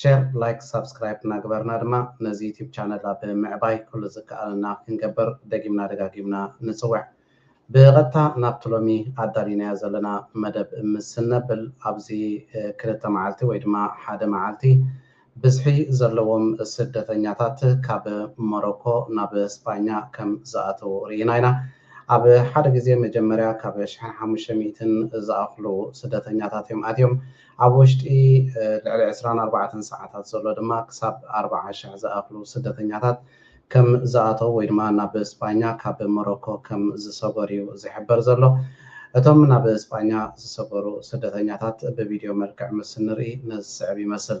ሸር ላይክ ሳብስክራይብ እናገበርና ድማ ነዚ ዩቱብ ቻነል ኣብ ምዕባይ ኩሉ ዝከኣለና ክንገብር ደጊምና ደጋጊምና ንፅውዕ። ብቐጥታ ናብቲ ሎሚ ኣዳሊናዮ ዘለና መደብ ምስ እነብል ኣብዚ ክልተ መዓልቲ ወይ ድማ ሓደ መዓልቲ ብዝሒ ዘለዎም ስደተኛታት ካብ ሞሮኮ ናብ ስጳኛ ከም ዝኣተው ርኢና ኢና። ኣብ ሓደ ግዜ መጀመርያ ካብ ሽሕን ሓሙሽተ ሚእትን ዝኣኽሉ ስደተኛታት እዮም ኣትዮም። ኣብ ወሽጢ ልዕሊ ዕስራን ኣርባዕተን ሰዓታት ዘሎ ድማ ክሳብ ኣርብዓ ሽሕ ዝኣኽሉ ስደተኛታት ከም ዝኣተው ወይ ድማ ናብ ስጳኛ ካብ ሞሮኮ ከም ዝሰጎር እዩ ዝሕበር ዘሎ። እቶም ናብ ስጳኛ ዝሰጎሩ ስደተኛታት ብቪድዮ መልክዕ ምስ እንርኢ ነዚ ዝስዕብ ይመስል።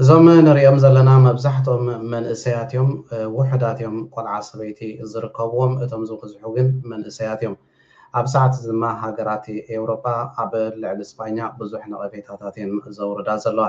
እዞም ንሪኦም ዘለና መብዛሕትኦም መንእሰያት እዮም፣ ውሑዳት እዮም ቆልዓ ሰበይቲ ዝርከብዎም፣ እቶም ዝበዝሑ ግን መንእሰያት እዮም። ኣብ ሰዓት እዚ ድማ ሃገራት ኤውሮጳ ኣብ ልዕሊ ስጳኛ ብዙሕ ነቐፌታታት እየን ዘውርዳ ዘለዋ።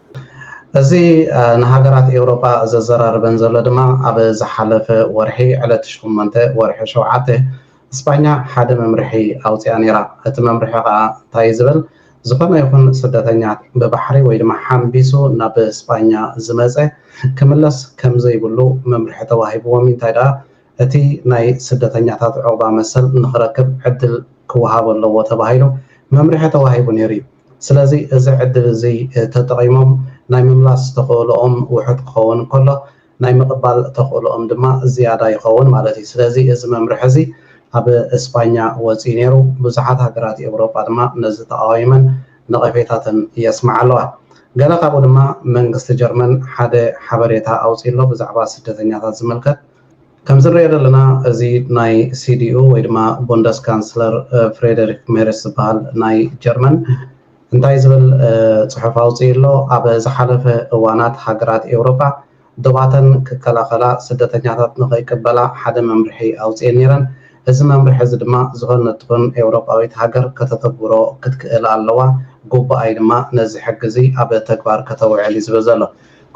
እዚ ንሃገራት ኤውሮጳ ዘዘራርበን ዘሎ ድማ ኣብ ዝሓለፈ ወርሒ ዕለት ሸሞንተ ወርሒ ሸውዓተ እስጳኛ ሓደ መምርሒ ኣውጺኣ ነይራ። እቲ መምርሒ ከኣ እንታይ'ዩ ዝብል ዝኾነ ይኹን ስደተኛ ብባሕሪ ወይ ድማ ሓንቢሱ ናብ እስጳኛ ዝመጸ ክምለስ ከምዘይብሉ መምርሒ ተዋሂብዎም'ዩ እንታይ ደኣ እቲ ናይ ስደተኛታት ዑቕባ መሰል ንኽረክብ ዕድል ክወሃቦ ኣለዎ ተባሂሉ መምርሒ ተዋሂቡ ነይሩ'ዩ። ስለዚ እዚ ዕድል እዚ ተጠቒሞም ናይ ምምላስ ተኽእሎኦም ውሑድ ክኸውን እንከሎ ናይ ምቕባል ተኽእሎኦም ድማ ዝያዳ ይኸውን ማለት እዩ። ስለዚ እዚ መምርሒ እዚ ኣብ እስጳኛ ወጺኡ ነይሩ። ብዙሓት ሃገራት ኤውሮጳ ድማ ነዚ ተቓዊመን ነቐፌታተን የስምዓ ኣለዋ። ገለ ካብኡ ድማ መንግስቲ ጀርመን ሓደ ሓበሬታ ኣውጺኡ ኣሎ ብዛዕባ ስደተኛታት ዝምልከት። ከምዝንሪኦ ዘለና እዚ ናይ ሲዲኡ ወይ ድማ ቡንደስካንስለር ፍሬደሪክ ሜርስ ዝበሃል ናይ ጀርመን እንታይ ዝብል ፅሑፍ ኣውፂኡ ኣሎ? ኣብ ዝሓለፈ እዋናት ሃገራት ኤውሮጳ ዶባተን ክከላኸላ ስደተኛታት ንኸይቅበላ ሓደ መምርሒ ኣውፂኤን ነይረን። እዚ መምርሒ እዚ ድማ ዝኾነት ትኹን ኤውሮጳዊት ሃገር ከተተግብሮ ክትክእል ኣለዋ፣ ግቡኣ'ዩ ድማ ነዚ ሕጊ እዚ ኣብ ተግባር ከተውዕል እዩ ዝብል ዘሎ።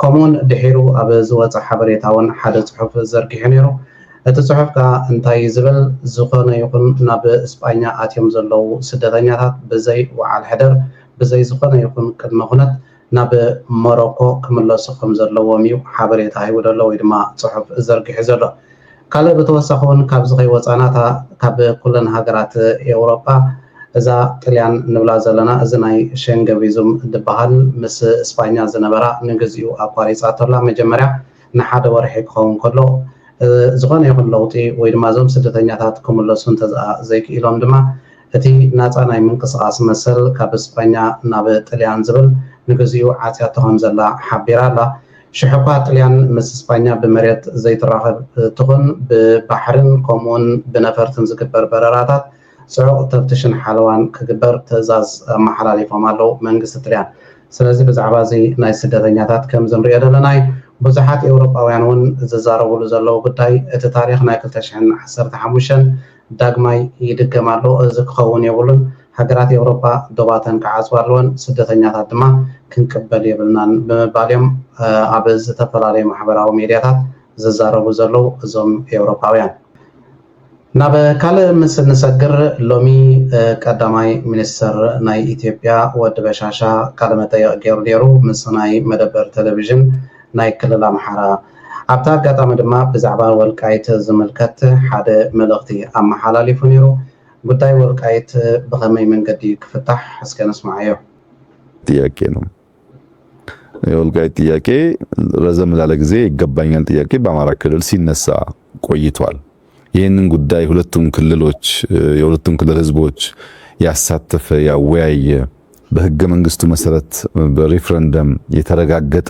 ከምኡውን ድሒሩ ኣብ ዝወጸ ሓበሬታውን ሓደ ጽሑፍ ዘርጊሑ ነይሩ። እቲ ጽሑፍ ከኣ እንታይ እዩ ዝብል፣ ዝኾነ ይኹን ናብ ስጳኛ ኣትዮም ዘለዉ ስደተኛታት ብዘይ ውዓል ሕደር ብዘይ ዝኾነ ይኹን ቅድመ ኩነት ናብ ሞሮኮ ክምለሱ ከም ዘለዎም እዩ ሓበሬታ ሂቡ ዘሎ ወይ ድማ ጽሑፍ ዘርጊሑ ዘሎ። ካልእ ብተወሳኺ ውን ካብዚ ከይወጻና እታ ካብ ኩለን ሃገራት ኤውሮጳ እዛ ጥልያን ንብላ ዘለና እዚ ናይ ሸንገ ቪዙም ድበሃል ምስ እስፓኛ ዝነበራ ንግዚኡ ኣቋሪጻቶ ኣላ መጀመርያ ንሓደ ወርሒ ክኸውን ከሎ ዝኾነ ይኹን ለውጢ ወይ ድማ እዞም ስደተኛታት ክምለሱ እንተዝኣ ዘይክኢሎም ድማ እቲ ናጻ ናይ ምንቅስቓስ መሰል ካብ እስፓኛ ናብ ጥልያን ዝብል ንግዚኡ ዓጽያቶ ከምዘላ ሓቢራ ኣላ። ሽሕኳ ጥልያን ምስ ስጳኛ ብመሬት ዘይትራኸብ ትኹን ብባሕርን ከምኡውን ብነፈርትን ዝግበር በረራታት ጽዑቕ ተፍትሽን ሓለዋን ክግበር ትእዛዝ ኣመሓላሊፎም ኣለዉ መንግስቲ ጥልያን። ስለዚ ብዛዕባ እዚ ናይ ስደተኛታት ከምዚ ንርእዮ ዘለና እዩ። ብዙሓት ኤውሮጳውያን እውን ዝዛረቡሉ ዘለዉ ጉዳይ እቲ ታሪኽ ናይ ክልተ ሽሕን ዓሰርተ ሓሙሽተን ዳግማይ ይድገም ኣሎ እዚ ክኸውን የብሉን ሃገራት ኤውሮጳ ዶባተን ክዓጽዋ ኣለወን ስደተኛታት ድማ ክንቅበል የብልናን ብምባል እዮም ኣብ ዝተፈላለዩ ማሕበራዊ ሜድያታት ዝዛረቡ ዘለዉ እዞም ኤውሮጳውያን። ናብ ካልእ ምስ እንሰግር ሎሚ ቀዳማይ ሚኒስተር ናይ ኢትዮጵያ ወዲ በሻሻ ቃለ መጠይቕ ገይሩ ነይሩ ምስ ናይ መደበር ተለቪዥን ናይ ክልል ኣምሓራ። ኣብቲ ኣጋጣሚ ድማ ብዛዕባ ወልቃይት ዝምልከት ሓደ መልእኽቲ ኣመሓላሊፉ ነይሩ። ጉዳይ ወልቃይት ብኸመይ መንገዲ ክፍታሕ እስከ ንስምዓዮ። ጥያቄ ነው የወልቃይት ጥያቄ ረዘም ላለ ጊዜ ይገባኛል ጥያቄ በአማራ ክልል ሲነሳ ቆይቷል። ይህንን ጉዳይ ሁለቱም ክልሎች የሁለቱም ክልል ህዝቦች ያሳተፈ ያወያየ በህገ መንግስቱ መሰረት በሪፍረንደም የተረጋገጠ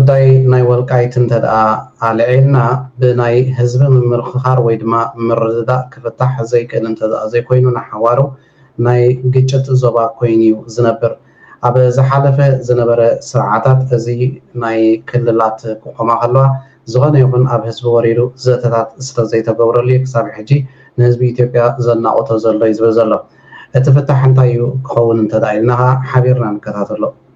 ጉዳይ ናይ ወልቃይት እንተድኣ ኣልዒልና ብናይ ህዝቢ ምምርኽኻር ወይ ድማ ምርድዳእ ክፍታሕ ዘይክእል እንተድኣ ዘይኮይኑ ንሓዋሩ ናይ ግጭት ዞባ ኮይኑ ዩ ዝነብር። ኣብ ዝሓለፈ ዝነበረ ስርዓታት እዚ ናይ ክልላት ክቆማ ከለዋ ዝኾነ ይኹን ኣብ ህዝቢ ወሪዱ ዘተታት ስለዘይተገብረሉ ዩ ክሳብ ሕጂ ንህዝቢ ኢትዮጵያ ዘናቑቶ ዘሎ ይዝብል ዘሎ። እቲ ፍታሕ እንታይ ዩ ክኸውን እንተድኣ ኢልና ከኣ ሓቢርና ንከታተሎ።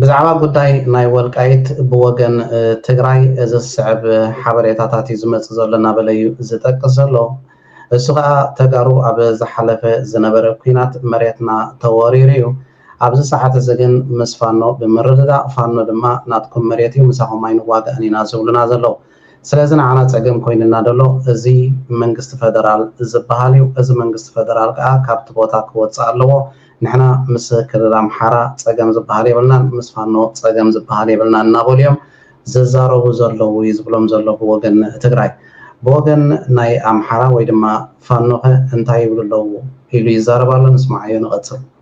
ብዛዕባ ጉዳይ ናይ ወልቃይት ብወገን ትግራይ እዚ ዝስዕብ ሓበሬታታት እዩ ዝመፅእ ዘሎ እናበለ እዩ ዝጠቅስ ዘሎ። እሱ ከዓ ተጋሩ ኣብ ዝሓለፈ ዝነበረ ኲናት መሬትና ተወሪሩ እዩ። ኣብዚ ሰዓት እዚ ግን ምስ ፋኖ ብምርድዳእ ፋኖ ድማ ናትኩም መሬት እዩ ምሳኹም ኣይንዋጋእን ኢና ዝብሉና ዘለው። ስለዚ ንዓና ጸገም ኮይንና ደሎ እዚ መንግስቲ ፈደራል ዝባሃል እዩ እዚ መንግስቲ ፈደራል ካኣ ካብቲ ቦታ ክወጽእ ኣለዎ ንሕና ምስ ክልል ኣምሓራ ጸገም ዝባሃል የብልናን ምስ ፋኖ ጸገም ዝባሃል የብልናን እናበሉ እዮም ዝዛረቡ ዘለዉ እዩ ዝብሎም ዘሎ ብወገን ትግራይ ብወገን ናይ ኣምሓራ ወይ ድማ ፋኖኸ እንታይ ይብሉ ኣለዉ ኢሉ ይዛረብ ኣሎ ንስማዓዮ ንቐጽል።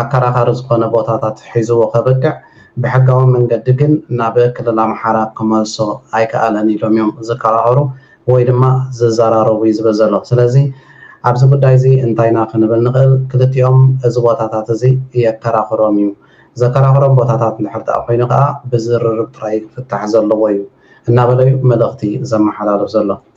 ኣከራኻሪ ዝኾነ ቦታታት ሒዝዎ ከብቅዕ ብሕጋዊ መንገዲ ግን ናብ ክልል ኣምሓራ ክመልሶ ኣይከኣለን ኢሎም እዮም ዝከራኸሩ ወይ ድማ ዝዘራረቡ እዩ ዝብል ዘሎ። ስለዚ ኣብዚ ጉዳይ እዚ እንታይ ኢና ክንብል ንኽእል? ክልቲኦም እዚ ቦታታት እዚ የከራኽሮም እዩ። ዘከራኽሮም ቦታታት እንድሕር ደኣ ኮይኑ ከኣ ብዝርርብ ጥራይ እዩ ክፍታሕ ዘለዎ እዩ እናበለ እዩ መልእኽቲ ዘመሓላልፍ ዘሎ።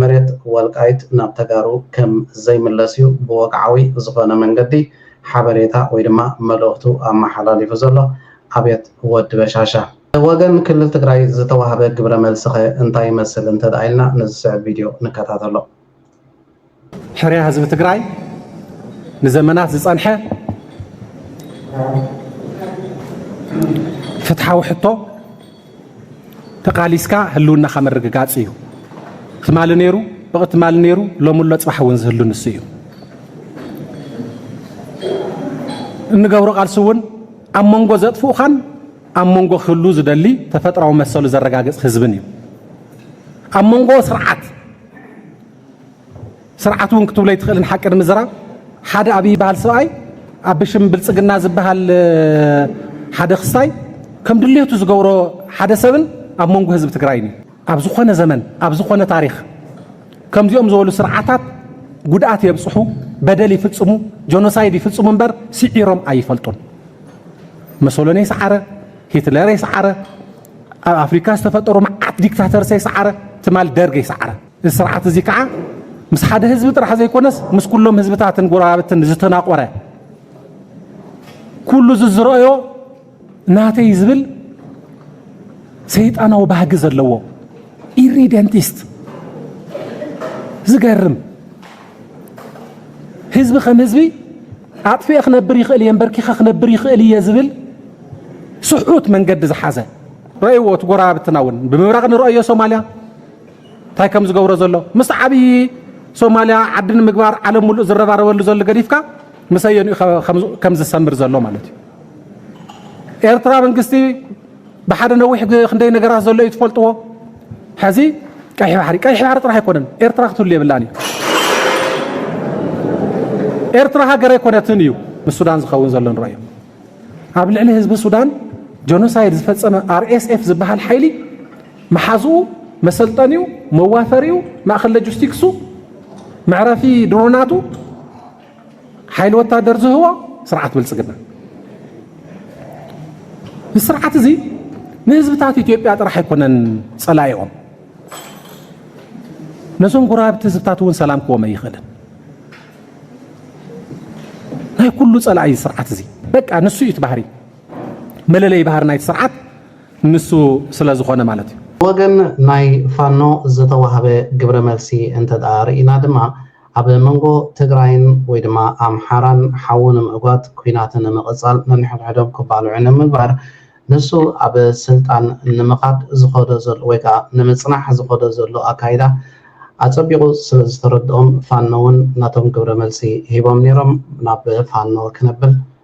መሬት ወልቃይት ናብ ተጋሩ ከም ዘይምለስ እዩ ብወግዓዊ ዝኾነ መንገዲ ሓበሬታ ወይ ድማ መልእኽቱ ኣመሓላሊፉ ዘሎ ኣብየት ወዲ በሻሻ። ብወገን ክልል ትግራይ ዝተዋህበ ግብረ መልሲኸ እንታይ ይመስል እንተድኣ ኢልና ንዝስዕብ ቪድዮ ንከታተሎ። ሕርያ ህዝቢ ትግራይ ንዘመናት ዝፀንሐ ፍትሓዊ ሕቶ፣ ተቃሊስካ ህልውናኻ ምርግጋጽ እዩ። ትማሊ ነይሩ ብቅ ትማሊ ነይሩ ሎሚ ኣሎ ጽባሕ እውን ዝህሉ ንሱ እዩ። እንገብሮ ቃልሲ እውን ኣብ መንጎ ዘጥፍኡኻን ኣብ መንጎ ክህሉ ዝደሊ ተፈጥራዊ መሰሉ ዘረጋግጽ ህዝብን እዩ ኣብ መንጎ ስርዓት ስርዓት እውን ክትብሎ ኣይትኽእልን ሓቂ ንምዝራብ ሓደ ኣብይ ይበሃል ሰብኣይ ኣብ ብሽም ብልፅግና ዝበሃል ሓደ ክስታይ ከም ድልየቱ ዝገብሮ ሓደ ሰብን ኣብ መንጎ ህዝቢ ትግራይን እዩ ኣብ ዝኾነ ዘመን ኣብ ዝኾነ ታሪክ ከምዚኦም ዝበሉ ስርዓታት ጉድኣት የብፅሑ በደል ይፍፅሙ ጆኖሳይድ ይፍፅሙ እምበር ስዒሮም ኣይፈልጡን መሶሎኒ የስዓረ ሂትለር የስዓረ ኣብ ኣፍሪካ ዝተፈጠሩ መዓት ዲክታተርስ የስዓረ ትማል ደርግ የስዓረ እዚ ስርዓት እዚ ከዓ ምስ ሓደ ህዝቢ ጥራሕ ዘይኮነስ ምስ ኩሎም ህዝብታትን ጎረባብትን ዝተናቆረ ኩሉ ዝዝረእዮ ናተይ ዝብል ሰይጣናዊ ባህጊ ዘለዎ ኢሪደንቲስት ዝገርም ህዝቢ ከም ህዝቢ ኣጥፍኤ ክነብር ይኽእል እየ እምበርኪኸ ክነብር ይኽእል እየ ዝብል ስሑት መንገዲ ዝሓዘ ረእይዎ እቲ ጎረባብትና እውን ብምብራቕ ንረእዮ ሶማልያ እንታይ ከም ዝገብሮ ዘሎ ምስ ዓብዪ ሶማልያ ዓዲ ንምግባር ዓለም ሙሉእ ዝረባረበሉ ዘሎ ገዲፍካ ምስ ኣየንኡ ከም ዝሰምር ዘሎ ማለት እዩ ኤርትራ መንግስቲ ብሓደ ነዊሕ ክንደይ ነገራት ዘሎ እዩ ትፈልጥዎ ሕዚ ቀይሕ ባሕሪ ቀይሕ ባሕሪ ጥራሕ ኣይኮነን ኤርትራ ክትህሉ የብላን እዩ ኤርትራ ሃገር ኣይኮነትን እዩ ምስ ሱዳን ዝኸውን ዘሎ ንረኦ ኣብ ልዕሊ ህዝቢ ሱዳን ጀኖሳይድ ዝፈፀመ ኣርኤስኤፍ ዝበሃል ሓይሊ መሓዝኡ፣ መሰልጠኒኡ፣ መዋፈሪኡ፣ ማእኸል ለጁስቲክሱ፣ መዕረፊ ድሮናቱ፣ ሓይሊ ወታደር ዝህቦ ስርዓት ብልፅግና እዚ ስርዓት እዚ ንህዝብታት ኢትዮጵያ ጥራሕ ኣይኮነን ጸላኢኦም ነዞም ጎረባብቲ ህዝብታት እውን ሰላም ክዎም ኣይኽእልን። ናይ ኩሉ ጸላኢ ስርዓት እዚ በቃ ንሱ እዩ እቲ ባህሪ መለለይ ባህሪ ናይቲ ስርዓት ንሱ ስለዝኾነ ማለት እዩ። ብወገን ናይ ፋኖ ዝተዋህበ ግብረ መልሲ እንተድኣ ርኢና ድማ ኣብ መንጎ ትግራይን ወይ ድማ ኣምሓራን ሓዊ ንምዕጓት ኲናት ንምቕፃል ነንሕድሕዶም ክባልዑ ንምግባር ንሱ ኣብ ስልጣን ንምኻድ ዝኸዶ ዘሎ ወይ ከዓ ንምፅናሕ ዝኸዶ ዘሎ ኣካይዳ ኣፀቢቑ ስለዝተረድኦም ፋኖ እውን ነቶም ግብረ መልሲ ሂቦም ነይሮም ናብ ፋኖ ክነብል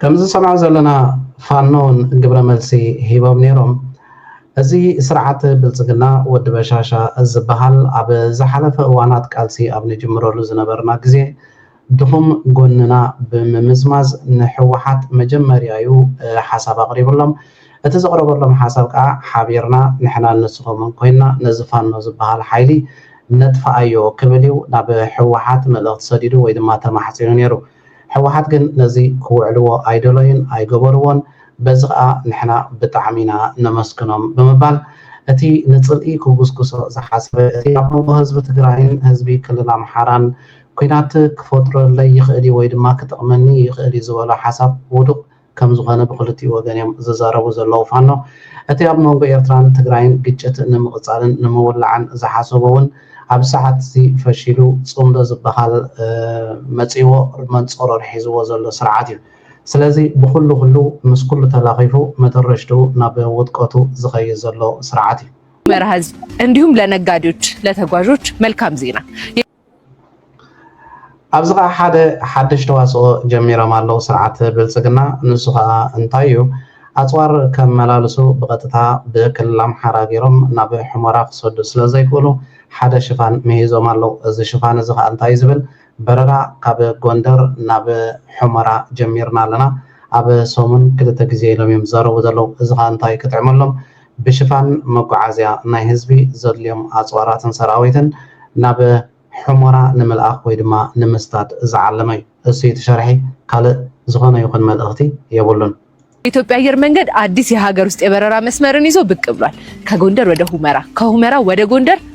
ከምዚ ዝሰምዖ ዘለና ፋኖ ውን ግብረ መልሲ ሂቦም ኔሮም። እዚ ስርዓት ብልጽግና ወዲ በሻሻ ዝበሃል ኣብ ዝሓለፈ እዋናት ቃልሲ ኣብ ንጅምረሉ ዝነበርና ግዜ ድኹም ጎንና ብምምዝማዝ ንሕወሓት መጀመርያዩ ሓሳብ ኣቕሪብሎም። እቲ ዘቕረበሎም ሓሳብ ከኣ ሓቢርና ንሕናን ንስኹምን ኮይንና ነዚ ፋኖ ዝበሃል ሓይሊ ነጥፍኣዮ ክብልዩ ናብ ሕወሓት መልእኽቲ ሰዲዱ ወይ ድማ ተማሕጺኑ ኔሩ። ሕወሓት ግን ነዚ ክውዕልዎ ኣይደሎዩን ኣይገበርዎን በዚ ከኣ ንሕና ብጣዕሚ ኢና ነመስግኖም ብምባል እቲ ንጽልኢ ክጉስጉሶ ዝሓሰበ እቲ ኣብ መንጎ ህዝቢ ትግራይን ህዝቢ ክልል ኣምሓራን ኩናት ክፈጥረለይ ይኽእልዩ ወይ ድማ ክጠቕመኒ ይኽእልዩ ዝበሎ ሓሳብ ውዱቕ ከምዝኾነ ብኽልቲኡ ወገን እዮም ዝዛረቡ ዘለዉ ፋኖ። እቲ ኣብ መንጎ ኤርትራን ትግራይን ግጭት ንምቕጻልን ንምውላዕን ዝሓሰቦ እውን ኣብዚ ሰዓት'ዚ ፈሺሉ ጽምዶ ዝበሃል መጺእዎ መንጸሮር ሒዝዎ ዘሎ ስርዓት እዩ። ስለዚ ብኹሉ ኩሉ ምስ ኩሉ ተላኺፉ መደረሽትኡ ናብ ውድቀቱ ዝኸይድ ዘሎ ስርዓት እዩ። መርሃ ዜና እንዲሁም ለነጋዴዎች ለተጓዦች መልካም ዜና። ኣብዚ ከዓ ሓደ ሓድሽ ተዋስኦ ጀሚሮም ኣለው ስርዓት ብልፅግና ንሱ ከዓ እንታይ እዩ ኣፅዋር ከመላልሱ ብቀጥታ ብክልል ኣምሓራ ገይሮም ናብ ሕሞራ ክሰዱ ስለዘይክእሉ ሓደ ሽፋን ምሂዞም ኣለው እዚ ሽፋን እዚ ከዓ እንታይ እዩ ዝብል በረራ ካብ ጎንደር ናብ ሕሞራ ጀሚርና ኣለና ኣብ ሰሙን ክልተ ግዜ ኢሎም እዮም ዝዛረቡ ዘለው እዚ ከዓ እንታይ ክጥዕመሎም ብሽፋን መጓዓዝያ ናይ ህዝቢ ዘድልዮም ኣፅዋራትን ሰራዊትን ናብ ሑመራ ንምልኣኽ ወይ ድማ ንምስዳድ ዝዓለመ እዩ። እሱይ እቲ ሸርሒ ካልእ ዝኾነ ይኹን መልእኽቲ የብሉን። የኢትዮጵያ ኣየር መንገድ ኣዲስ የሃገር ውስጥ የበረራ መስመርን ይዞ ብቅ ብሏል። ከጎንደር ወደ ሁመራ፣ ከሁመራ ወደ ጎንደር።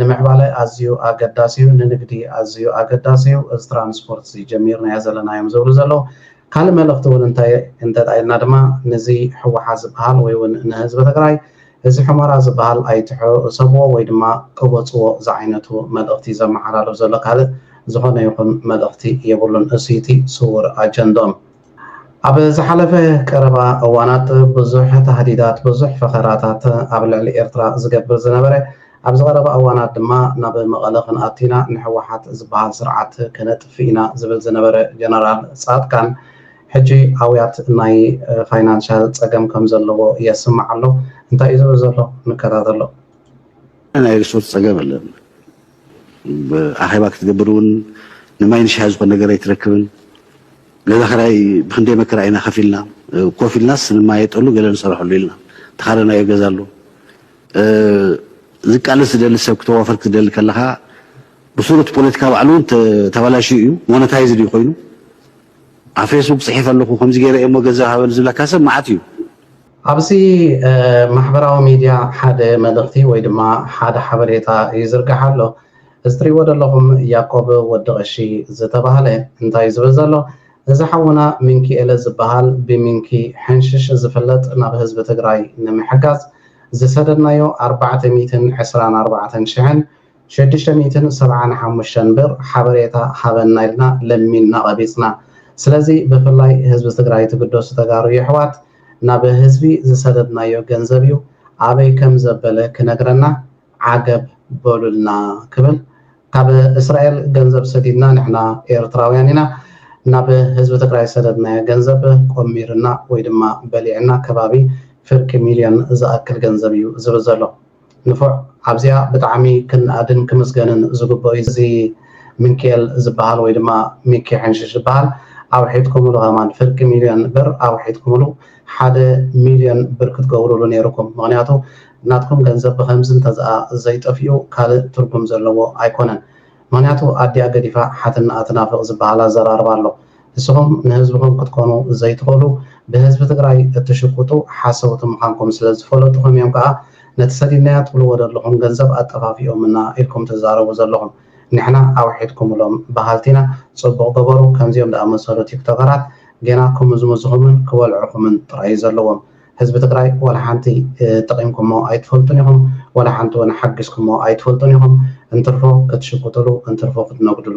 ንምዕባለ ኣዝዩ ኣገዳሲዩ ንንግዲ ኣዝዩ ኣገዳሲዩ እዚ ትራንስፖርት እዚ ጀሚርናዮ ዘለናዮም ዝብሉ ዘለዉ ካልእ መልእኽቲ ውን እንታይ እንተ ኢልና ድማ ንዚ ሕወሓት ዝብሃል ወይ ውን ንህዝቢ ትግራይ እዚ ሑመራ ዝብሃል ኣይትሕሰብዎ ወይ ድማ ቅበጽዎ ዝዓይነቱ መልእኽቲዩ ዘመሓላልፍ ዘሎ ካልእ ዝኾነ ይኹን መልእኽቲ የብሉን እሱዩ እቲ ስዉር ኣጀንድኦም። ኣብ ዝሓለፈ ቀረባ እዋናት ብዙሕ ታህዲዳት ብዙሕ ፈኸራታት ኣብ ልዕሊ ኤርትራ ዝገብር ዝነበረ ኣብዚ ቀረባ እዋናት ድማ ናብ መቐለ ክንኣቱ ኢና ንሕወሓት ዝበሃል ስርዓት ከነጥፍእ ኢና ዝብል ዝነበረ ጀነራል ፃድቃን ሕጂ ኣውያት ናይ ፋይናንሻል ፀገም ከምዘለዎ የስምዕ ኣሎ እንታይ እዩ ዝብል ዘሎ ንከታተሎ። ናይ ሪሶርስ ፀገም ኣለና ኣኼባ ክትገብር እውን ንማይን ሻሂ ዝኾን ነገር ኣይትረክብን። ገዛ ክራይ ብክንደይ መከራ ኢና ከፊልና ኮፍ ኢልናስ ንማየጠሉ ገለ ንሰርሐሉ ኢልና ተኻረናዮ ገዛ ኣሎ። ዝቃለስ ዝደሊ ሰብ ክተዋፈር ክትደሊ ከለኻ ብሱሩ እቲ ፖለቲካ ባዕሉ እውን ተባላሽዩ እዩ ሞነታይዝድ እዩ ኮይኑ ኣብ ፌስቡክ ፅሒፈ ኣለኹ ከምዚ ገይረ እየ እሞ ገንዘብ ሃበኒ ዝብለካ ሰብ መዓት እዩ። ኣብዚ ማሕበራዊ ሚድያ ሓደ መልእኽቲ ወይ ድማ ሓደ ሓበሬታ ይዝርጋሕ ኣሎ። እዚ ትሪእዎ ዘለኹም ያቆብ ወዲ ቐሺ ዝተባህለ እንታይ ዝብል ዘሎ እዚ ሓውና ሚንኪኤለ ዝበሃል ብሚንኪ ሕንሽሽ ዝፍለጥ ናብ ህዝቢ ትግራይ ንምሕጋዝ ዝሰደድናዮ ኣርባዕተ ሚእትን ዕስራን ኣርባዕተን ሽሕን ሽዱሽተ ሚእትን ሰብዓን ሓሙሽተን ብር ሓበሬታ ሃበና ኢልና ለሚንና ቐቢፅና ስለዚ ብፍላይ ህዝቢ ትግራይ ትግደሱ ተጋሩ የሕዋት ናብ ህዝቢ ዝሰደድናዮ ገንዘብ ዩ ኣበይ ከም ዘበለ ክነግረና ዓገብ በሉልና ክብል ካብ እስራኤል ገንዘብ ሰዲድና ንሕና ኤርትራውያን ኢና ናብ ህዝቢ ትግራይ ዝሰደድናዮ ገንዘብ ቆሚርና ወይ ድማ በሊዕና ከባቢ ፍርቂ ሚልዮን ዝኣክል ገንዘብ ዩ ዝብል ዘሎ። ንፉዕ ኣብዚኣ ብጣዕሚ ክንኣድን ክምስገንን ዝግብኦ እዩ እዚ ምንኪኤል ዝብሃል ወይ ድማ ሚኪ ሕንሽሽ ዝብሃል ኣውሒጥኩምሉ ከማን ፍርቂ ሚልዮን ብር ኣውሒጥኩምሉ ሓደ ሚልዮን ብር ክትገብሩሉ ኔሩኩም ምክንያቱ ናትኩም ገንዘብ ብከምዚ እንተዝኣ ዘይጠፊኡ ካልእ ትርጉም ዘለዎ ኣይኮነን ምክንያቱ ኣዲኣ ገዲፋ ሓትንኣ ትናፍቅ ዝብሃል ኣዘራርባ ኣሎ ንስኹም ንህዝብኹም ክትኮኑ ዘይትኽእሉ ብህዝቢ ትግራይ እትሽቁጡ ሓሰውቲ ምኻንኩም ስለዝፈለጡኹም እዮም ከኣ ነቲ ሰዲድናዮ ትብልዎ ደለኹም ገንዘብ ኣጠፋፊኦምና ኢልኩም ትዛረቡ ዘለኹም ንሕና ኣውሒድኩምሎም በሃልቲ ኢና ጽቡቕ ገበሩ ከምዚኦም ድኣመሰሉ ቲክቶከራት ጌና ክምዝምዙኹምን ክበልዑኹምን ጥራይ እዩ ዘለዎም ህዝቢ ትግራይ ዋላሓንቲ ጠቒምኩሞ ኣይትፈልጡን ኢኹም ዋላሓንቲ ውን ሓጊዝኩሞ ኣይትፈልጡን ኢኹም እንትርፎ ክትሽቁጥሉ እንትርፎ ክትነጉድሉ።